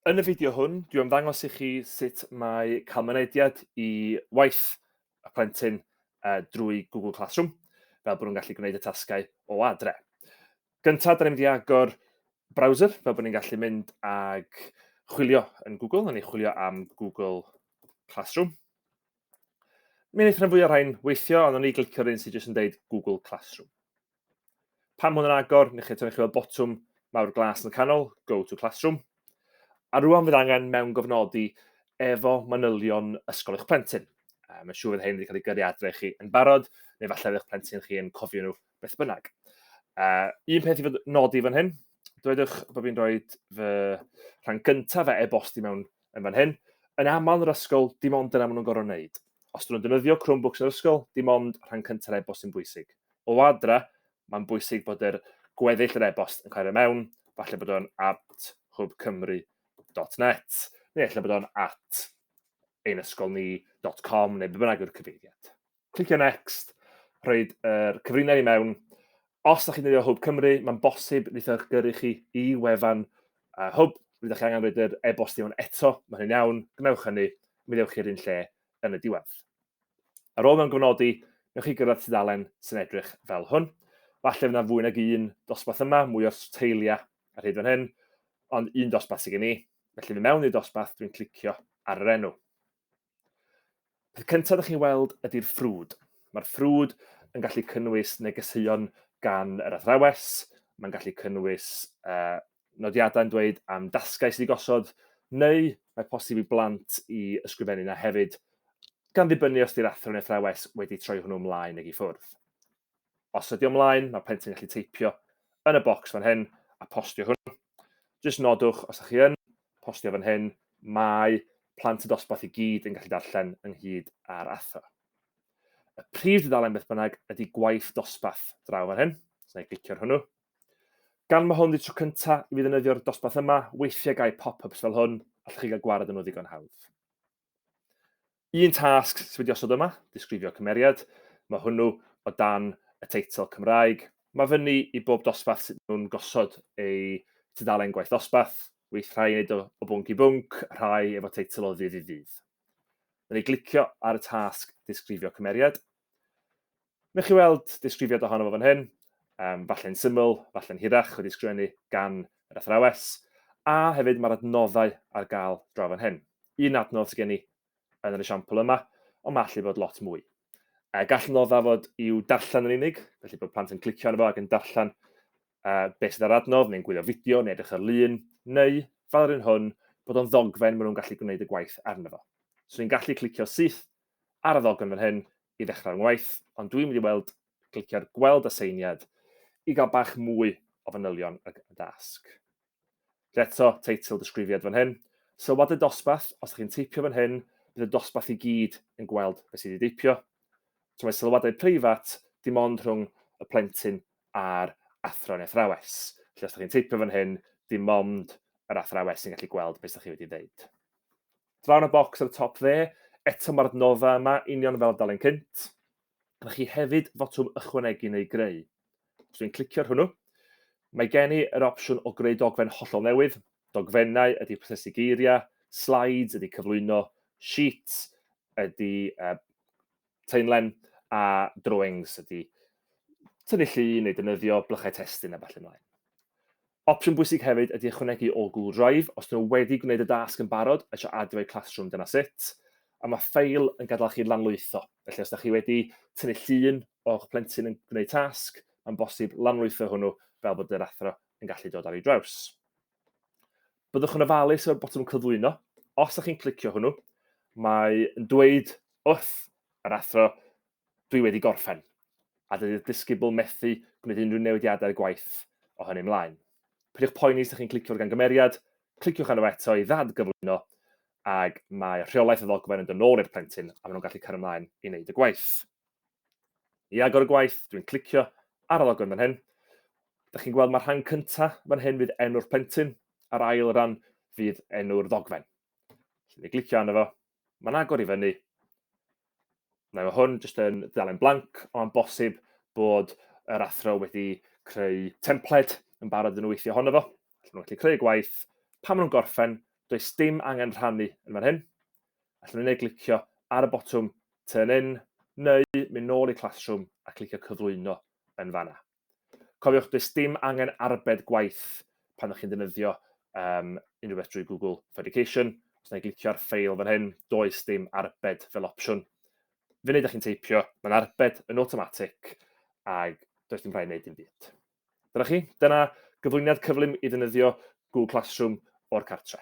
Yn y fideo hwn, dwi am ddangos i chi sut mae cael mynediad i waith y plentyn uh, drwy Google Classroom, fel bod nhw'n gallu gwneud y tasgau o adre. Gyntaf, da ni'n mynd i agor browser, fel bod ni'n gallu mynd ag chwilio yn Google, a ni chwilio am Google Classroom. Mi wnaethon fwy o rhain weithio, ond o'n i glicio'r un sydd jyst yn deud Google Classroom. Pan mwyn yn agor, ni chi eto, ni chi weld botwm mawr glas yn y canol, Go to Classroom. A rwan fydd angen mewn gofnodi efo manylion ysgol eich plentyn. Um, mae'n siŵr fydd hyn wedi cael ei gyrru adre chi yn barod, neu falle eich plentyn chi yn cofio nhw beth bynnag. Uh, un peth i fod nodi fan hyn, dwedwch bod fi'n rhoi fy rhan gyntaf fe e-bosti mewn yn fan hyn. Yn aml yn yr ysgol, dim ond dyna maen nhw'n gorfod wneud. Os dyn nhw'n defnyddio Chromebooks yn yr ysgol, dim ond rhan cyntaf e-bost sy'n bwysig. O adra, mae'n bwysig bod yr gweddill yr e-bost yn cael ei mewn, falle bod o'n at hwbcymru.net, neu efallai bod o'n at einysgolni.com, neu be bynnag yw'r cyfeiriad. clicio next, rhoi'r er cyfrinau i mewn. Os ydych chi'n defnyddio Hwb Cymru, mae'n bosib wneud eich gyrru chi i wefan uh, Hwb. Rydych chi angen rhoi'r e-bost i mewn eto, mae hynny'n iawn, gwnewch hynny, mi ddewch i'r un lle yn y diwedd. Ar ôl mewn gofnodi, newch chi gyrraedd tudalen sy'n edrych fel hwn. Falle fydd yna fwy nag un dosbarth yma, mwy o'r teiliau ar hyd fan hyn, ond un dosbarth sydd gen i. Felly, fi mewn i'r dosbarth, dwi'n clicio ar yr enw. Peth cyntaf ydych chi'n weld ydy'r ffrwd. Mae'r ffrwd yn gallu cynnwys negeseuon gan yr athrawes, mae'n gallu cynnwys uh, nodiadau'n dweud am dasgau sydd wedi gosod, neu mae posib i blant i ysgrifennu yna hefyd, gan ddibynnu os ydy'r athro neu athrawes wedi troi hwnnw ymlaen neu i ffwrdd. Os ydi o mlaen, mae plentyn yn gallu teipio yn y bocs fan hyn a postio hwn. Jyst nodwch, os ydych chi yn postio fan hyn, mae plant y dosbarth i gyd yn gallu darllen ynghyd â'r athro. Y prif dudalen beth bynnag ydy gwaith dosbarth draw fan hyn, so na i glicio'r hwnnw. Gan mae hwn wedi tro cynta i fi ddefnyddio'r dosbarth yma, weithiau gai pop-ups fel hwn, allwch chi gael gwared yn nhw ddigon hawdd. Un tasg sydd wedi osod yma, disgrifio cymeriad, mae hwnnw o dan y teitl Cymraeg. Mae fyny i bob dosbarth sydd nhw'n gosod eu tudalen gwaith dosbarth, weith rhai yn ei o, o bwnc i bwnc, rhai efo teitl o ddydd i ddydd. Mae ni glicio ar y tasg disgrifio cymeriad, Newch chi weld disgrifiad ohono fo fan hyn, um, falle'n syml, falle'n hirach, wedi sgrifennu gan yr athrawes, a hefyd mae'r adnoddau ar gael draw fan hyn. Un adnodd sydd gen i yn yr esiampl yma, ond mae allu bod lot mwy. Uh, gall nodda fod i'w darllen yn unig, felly bod plant yn clicio arno fo ac yn darllen uh, beth sydd ar adnodd, neu'n gwylio fideo, neu edrych ar lun, neu, fel yr un hwn, bod o'n ddogfen maen nhw'n gallu gwneud y gwaith arno fo. So ni'n gallu clicio syth ar y ddogfen fan hyn i ddechrau fy ngwaith, ond dwi'n mynd i weld, clicio ar gweld aseiniad i gael bach mwy o fanylion y dasg. Felly eto, teitl disgrifiad fan hyn. Sylwad y dosbarth, os ydych chi'n teipio fan hyn, bydd y dosbarth i gyd yn gweld beth sydd wedi deipio. So mae sylwadau preifat dim ond rhwng y plentyn a'r athro neu athrawes. Felly os ydych chi'n teipio fan hyn, dim ond yr athrawes sy'n gallu gweld beth ydych chi wedi dweud. Draw yn y bocs ar y top dde, eto mae'r adnoddau yma, union fel y dalen cynt. Rydych chi hefyd fotwm ychwanegu neu greu. Os dwi'n clicio ar hwnnw, mae gen i yr opsiwn o greu dogfen hollol newydd. Dogfennau ydy prosesu geiriau, slides ydy cyflwyno, sheets ydy uh, Taenlen a drawings ydy tynnu llu neu dynyddio blychau testun a falle mlaen. Opsiwn bwysig hefyd ydy ychwanegu o Google Drive os nhw wedi gwneud y dasg yn barod a eisiau adio eu classroom dyna sut. A mae ffeil yn gadael chi lanlwytho. Felly os da chi wedi tynnu llun o'ch plentyn yn gwneud tasg, mae'n bosib lanlwytho hwnnw fel bod yr athro yn gallu dod ar ei draws. Byddwch yn ofalus efo'r botwm cyflwyno. Os ydych chi'n clicio hwnnw, mae yn dweud wrth yr athro, dwi wedi gorffen, a dydy'r disgybl methu gwneud unrhyw newidiadau gwaith o hynny ymlaen. Peidiwch poeni os ydych chi'n clicio gan gymeriad, cliciwch arno eto i ddad gyflwyno, ac mae rheolaeth y ddogfen yn dod nôl i'r plentyn, a maen nhw'n gallu cario ymlaen i wneud y gwaith. I agor y gwaith, dwi'n clicio ar y logo yn fan hyn. Da chi'n gweld mae'r rhan cyntaf fan hyn fydd enw'r plentyn, a'r ail ran fydd enw'r ddogfen. Felly, glicio arno fo, mae'n agor i fyny, na mae hwn jyst yn ddalen blanc, ond bosib bod yr athro wedi creu templed yn barod yn nhw weithio honno fo. Felly nhw'n gallu creu gwaith, pan maen nhw'n gorffen, does dim angen rhannu yn fan hyn. Allan ni neu glicio ar y botwm Turn In, neu mynd nôl i Classroom a clicio Cyflwyno yn fanna. Cofiwch, does dim angen arbed gwaith pan ydych chi'n defnyddio um, unrhyw beth drwy Google for Education. Os na i glicio ar ffeil fan hyn, does dim arbed fel opsiwn. Fe wneud ydych chi'n teipio, mae'n arbed yn automatic, ac does dim rhaid wneud dim byd. Dyna chi, dyna gyflwyniad cyflym i ddefnyddio Google Classroom o'r cartre.